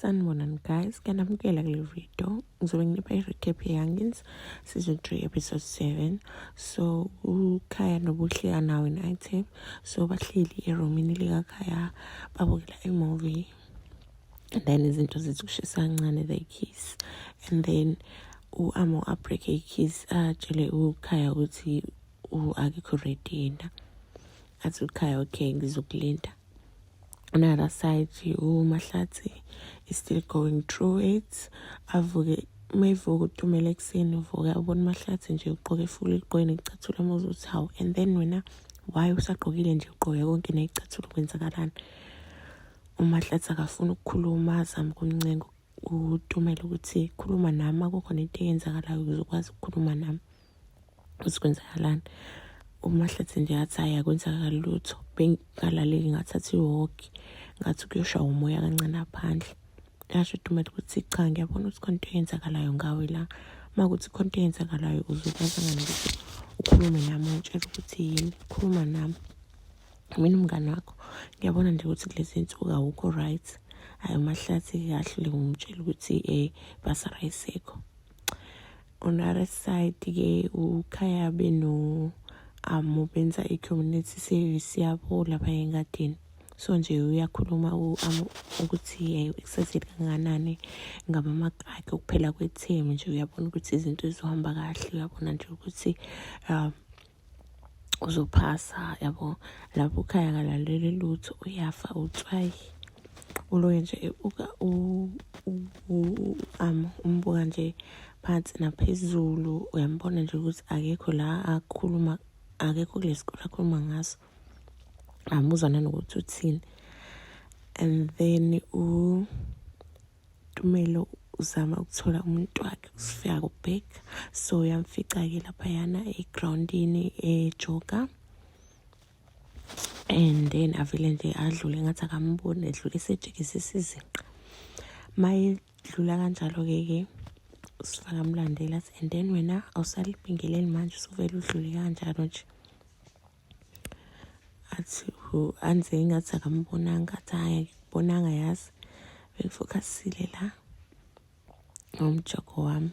Sanibonani guys, kanamukela kule video. Ngizobe nginipha i-recap ye-Youngins season 3 episode 7. So uKhaya noBuhle anawo in-item. So bahleli eromini likaKhaya babukela i-movie. And then izinto zithi kushisa kancane they kiss. And then u-Amo abreak i-kiss atshele uKhaya ukuthi akekho ready yena. Athi uKhaya okay ngizokulinda. on the other side umahlathi is still going through it avuke uma evuka utumela ekuseni uvuka ubona umahlathi nje ugqoke ifula eliqweni icathulo muze uthi hawu and then wena why usagqokile nje ugqoke konke neyicathulo kwenzakalani umahlathi akafuni ukukhuluma azama ukuncenga utumela ukuthi khuluma nami akukhona into eyenzakalayo ukuze ukwazi ukukhuluma nami ukuthi kwenzakalani umahlathi nje yathi hayi akwenzakali lutho bengalaleli ngathatha iwoki ngathi kuyoshaya umoya kancane phandle yasho utumati ukuthi cha ngiyabona ukuthi khona into eyenzakalayo ngawe la uma kuthi khona into eyenzakalayo uzokwazangani ukuthi ukhulume nami ungitshela ukuthi yini khuluma nami mina umngane wakho ngiyabona nje ukuthi kulezi nsuku awukho right hhayi umahlathi kahlule ngumtshela ukuthi um eh, basara isekho on the other side ke ukhaya beno amo benza i-community service yabo lapha engadini so nje uyakhuluma u-amo ukuthi eh, kusazile kanganani ngamamaki akhe ukuphela kwethemu nje uyabona ukuthi izinto zizohamba kahle uyabona nje ukuthi um uzophasa yabo lapho ukhaya kalaleli lutho uyafa utswayi uloye nje uka um umbuka nje phansi naphezulu uyambona nje ukuthi akekho la akhuluma akekho kulesikole akhuluma ngaso amuzwa nanokuthi uthini and then u Tumelo uzama ukuthola umuntu wakhe usifika kubheka so uyamfica-ke laphayana egrawundini ejoga and then avele nje adlule ngathi akamboni edlule esejikisisa izinqa ma edlula kanjalo-ke ke usifaka mlandela and then wena awusalibingeleli manje usuvele udlule kanjalo nje athi anze ingathi akambonanga athi hayi akubonanga yazi bengifokhasile la ngomjoko wami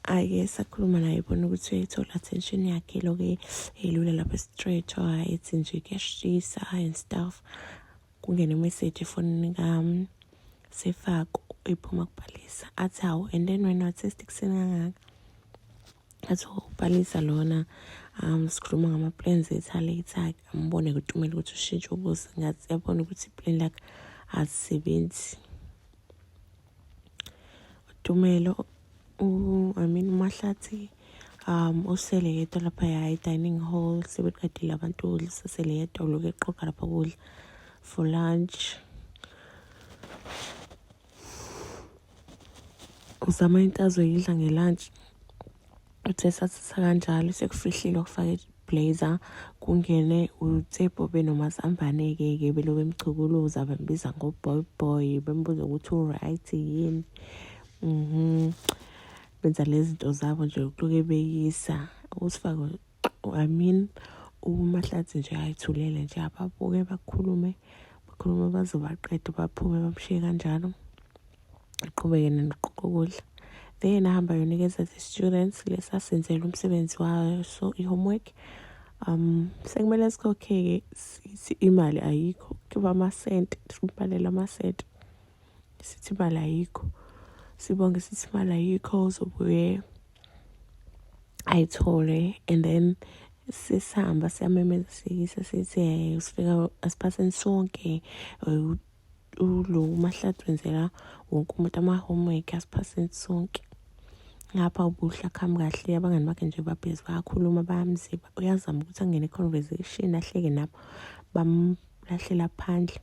ake sakhuluma naye bona ukuthi uyayithola attention yakhe loke elula lapha straight or ethi nje kuyashisa and stuff kungena imessage efonini kami sefako iphuma kubhalisa athi hawu and then wena wathi sikuseni kangaka athi ubhalisa lona um sikhuluma ngama-plans ethu alate akhe ambone kutumela ukuthi ushintshe ubuso ngathi yabona ukuthi i-plan lakhe azisebenzi utumelo i mean umahlathi um usele yedwa lapha ya i-dining hall sebeqedile abantu ukudla sesele yedwa uloku eqoga lapha kudla for lunch uzama into azoyidla ngelunch uthe sathitha kanjalo sekufihlile ukufaka iblazer kungene utsebho benomazambane-ke ke belo bemchukuluza bembiza ngoboy boy bembuza ukuthi uright yini mhm benza lezi zinto zabo nje ukuloke beyisa usifake I mean umahlathi nje ayithulele nje ababuke bakhulume bakhulume baze baqede baphume bamshiye kanjalo aqhubeke nenoqoqa ukudla then ahamba yonikeza the-students lesasenzela umsebenzi wayo so i-homework um sekumele sikhokhe-ke sithi imali ayikho kuba amasenti simbhalela amasenti sithi imali ayikho sibonge sithi imali ayikho uzobuye ayithole and then sisihamba siyamemeza siyise sithi um sifika asiphatheni sonke ulo umahlathi wenzela wonke umuntu ama-homework asiphatheni sonke ngapha ubuhle akhambi kahle abangani bakhe nje babhizi bayakhuluma bayamziba uyazama ukuthi angene conversation ahleke nabo bamlahlela phandle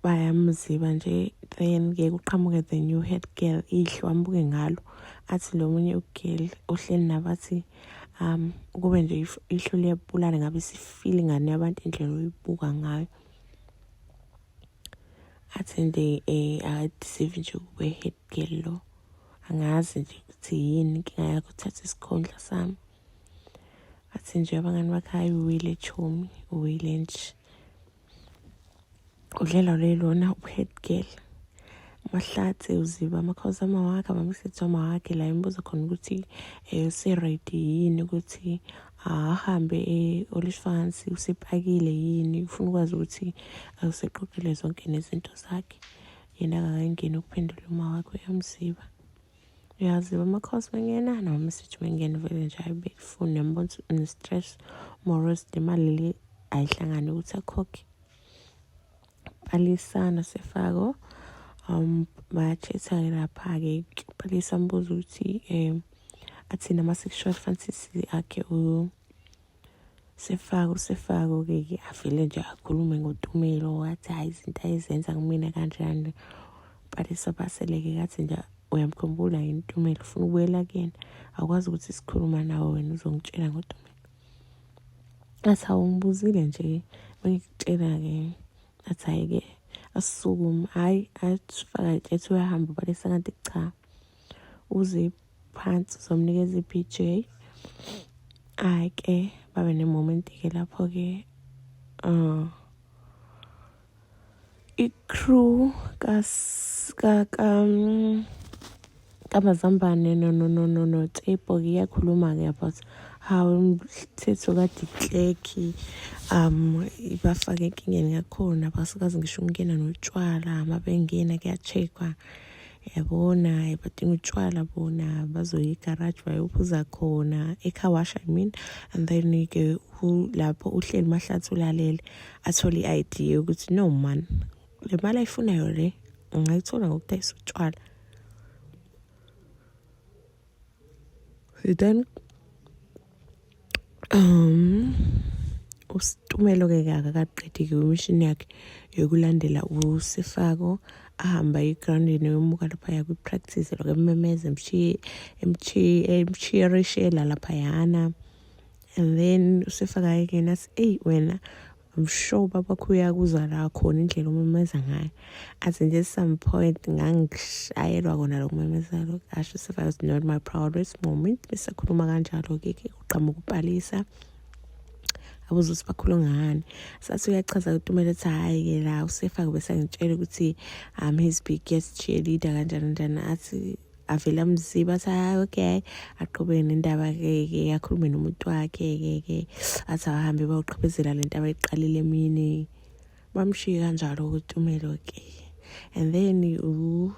bayamziba nje then ke kuqhamuke the new head girl ihle wambuke ngalo athi lo munye ugirl ohleli nabathi um kube nje ihlo liyabulala ngabe sifile ingane yabantu indlela oyibuka ngayo athi nje um akadisive nje kube head girl lo angazi nje ukuthi yini inkinga yakho uthatha isikhundla sami athi nje abangani bakhe hayi uwile chomi uwile nje udlela lelona uhead girl mahlathi uziba amakhosi amawakhe abamisethi amawakhe la imibuzo khona ukuthi um useredi yini ukuthi ahambe e-olishfans usepakile yini ufuna ukwazi ukuthi useqoqile zonke nezinto zakhe yena akakangeni ukuphendula uma wakho uyamziba uyaziba amakhosi mengena noma sithi mengena vele nje ayibe ifuni yambona ukuthi une-stress morose nemali le ayihlangane ukuthi akhokhe balisana sefako um batshetha-ke lapha-ke balisa mbuza ukuthi um athini ama-sexual fantasy akhe Sefako sefako ke ke avele nje akhulume ngotumelo wathi hayi izinto ayizenza kumina kanjani but esabaseleke kathi nje uyamkhumbula yini utumelo ufuna ukubuyela kuyena akwazi ukuthi sikhuluma nawe wena uzongitshela ngotumelo athi awungibuzile nje bengikutshela-ke athi hhayi-ke asisukume hhayi asifaka itshethu uyahamba balesa kanti cha uziphi phansi uzomnikeza i-bj ake babe nemoment-ke lapho-ke um i-crew kamazambane notepo iyakhuluma-ke about how umthetho kadikleki um ibafake enkingeni yakhona basikazi ngisho ukungena notshwala uma bengena kuya-check-wa yabona badinga utshwala bona bazoya egaraji bayophuza khona ecarwash i mean and then ke lapho uhleli mahlathi ulalele athole i-idea yokuthi no man le mali ayifunayo le ungayithola ngokudayisa utshwala then um usitumelo ke akakaqedi-ke imishini yakhe yokulandela usifako ahamba egroundini yomuka laphaya kwi-practice lokho emmemeza emchiyerishela laphayana and then usifaka yekena si eyi wena I'm sure babakho uyakuza la khona indlela umemeza ngayo as in just some point ngangishayelwa kona lo kumemezelo asho if I was not my proudest moment besakhuluma kanjalo ke ke uqhamuka ukupalisa abuze ukuthi bakhulu ngani sathi uyachaza ukuthi umele ethi hhayi ke la usefake bese angitshela ukuthi um his biggest cheerleader kanjani kanjani athi avele amziba athi hayi okay aqhubeke nendaba ke ke akhulume nomuntu wakhe ke ke athi ahambe bawuqhubezela lento abayiqalile emini bamshiye kanjalo ukutumelo ke and then u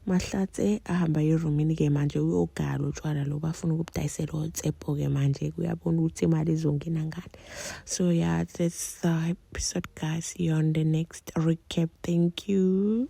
mahlatse ahamba erumini ke manje uyogala utshwala lo bafuna ukubudayisela otsepho ke manje kuyabona ukuthi imali izongena ngani so yeah that's the episode guys see you on the next recap thank you